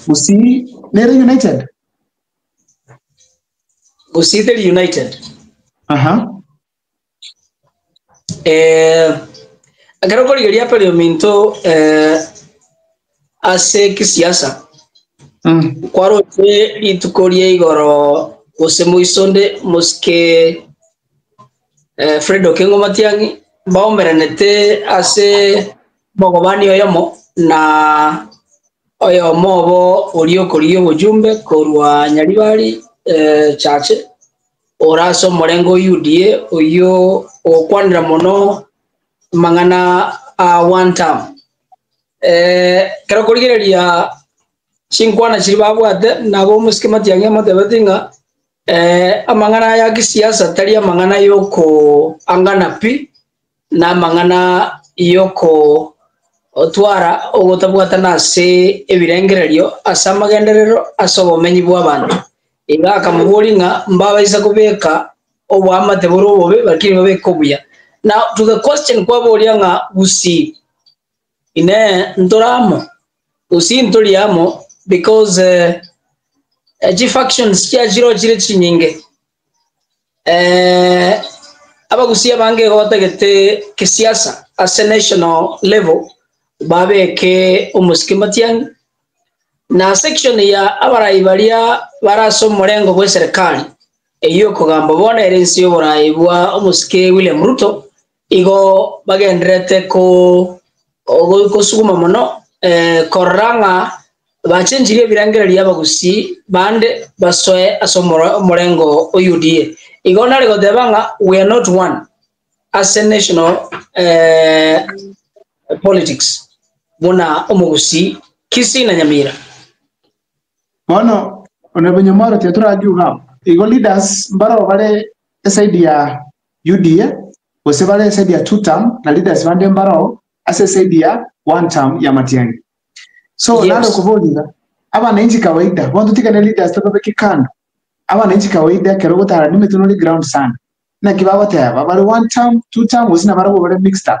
Gusii nere United? Gusii teri United. Aha. Eh, ekero korigeria peri ominto eh, ase kisiasa Mm. kwaroche rituko rie igoro gose moisonde mosike eh, Fredo Kengo Matiang'i baomeranete ase Omogobani oyomo na oyomo obo oria okorigia obochumbe korwa Nyaribari eh, Chache, ore ase omorenge o UDA, oyio ogokwanera mono amang'ana a one term. Eh, ekero okorigereria chinkwana chiria babwate nabo omosike matiang'i amotebetie ng'a eh, amang'ana aya ya kisiasa tari amang'ana yokoangana pi, Namang'ana y'okotwara ogotabwatana ase ebirengererio ase amagenderero ase obomenyi bw'abanto, iga akamoboria ng'a mbabaisa kobeka oboamate bore obobe lakini babeke obuya. Now to the question kwaboria ng'a gusii Inee ntora amo? Gusii ntori amo because eh, chifactions chiaye chirochire chinyinge. Eeh abagusii abange igo batagete kisiasa ase national level babeke omosike matiang'i, na section ya abarai baria bare ase omorengo bwa eserekari eyio okogamba bono ere ense y'oborai bwa omosike William Ruto, Igo bagendererete ko- go- gosuguma mono eh, korora ng'a bachenchirie ebirengererio y'abagusii bande basoe ase omoro- omorengo o UDA. Igo nare goteba ng'a we are not one ase national eh, politics buna omogusii Kisii na Nyamira. Bono Onorable Nyamoro tiga torake iga abwo. Igo leaders mbarabwo bare eside ya Yudia, gose bare esaidi ya two term, na leaders bande mbarao ase esaidi ya one term y'amatiangi. So nare Yes. okoboria iga, abananchi kawaida, bono totigane leaders tobabeke kando, abananchi kawaida ekero ogotara nimetwe nore ground sana, naki bagoteba bare one term, two term, gose nabarabwo bare mixed up.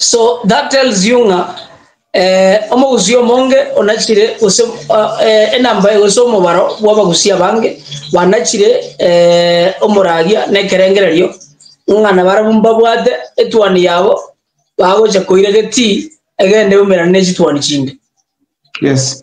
So that tells you ng'a eh, omogusii omonge onachire gose ah, eh, enamba eye gose omobaro bw'abagusii abange banachire eh, omoraria na ekerengererio ng'a nabarabwo mbabwate etuani yabo bagocha koira getii egende eumerane ne chituani chinde Yes.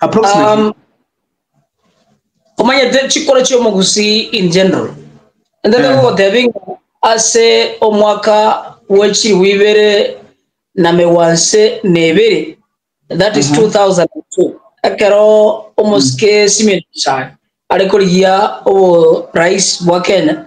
Approximately. Um, omanyete chikoro chi'omogusii in general ende Eh. ndagogotebia ng'a ase omwaka bw'echiribu ibere na megwanse na ebere that is 2002 ekero omosike Simeon Chai are korigia oborais bwa Kenya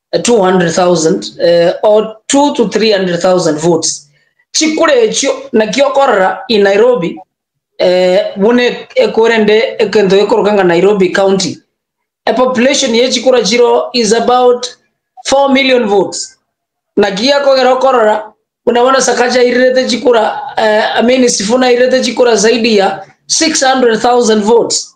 200,000 or two to 300,000 votes chikura echio naki okorora in Nairobi buna ekura ende ekento gekoroka ng'a Nairobi county a population ye chikura chiro is about 4 million votes naki gekogera okorora buna bono Sakaja airirete chikura I mean Sifuna airirete chikura zaidi ya 600,000 votes.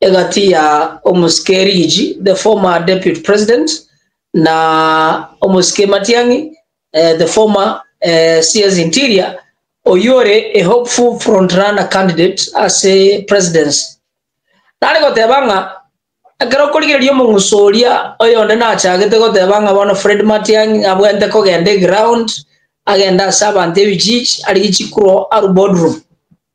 egati ya omosike Rigiji, the former deputy president, na omosike Matiang'i, the former CS Interior, oyio ore a hopeful frontrunner candidate ase presidency. Nare goteba ng'a ekero okorigereria omong'uso oria oyonde nachagete goteba ng'a bono Fred Matiang'i abwente kogenda eground, agende ase abanto ebijiji arigie chikuro arue boardroom.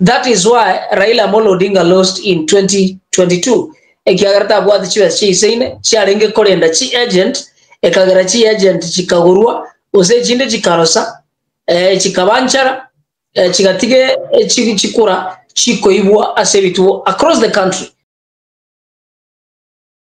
That is why Raila Amolo Odinga lost in 2022 ekiagera tabwati chibesa chia ise ine chiarenge korenda chi agent ekagera chi agent chikagorwa gose echinde chikarosa eh, chikaba nchara eh, chigatiga eh, chi- chikura chikoibwa ase ebituo across the country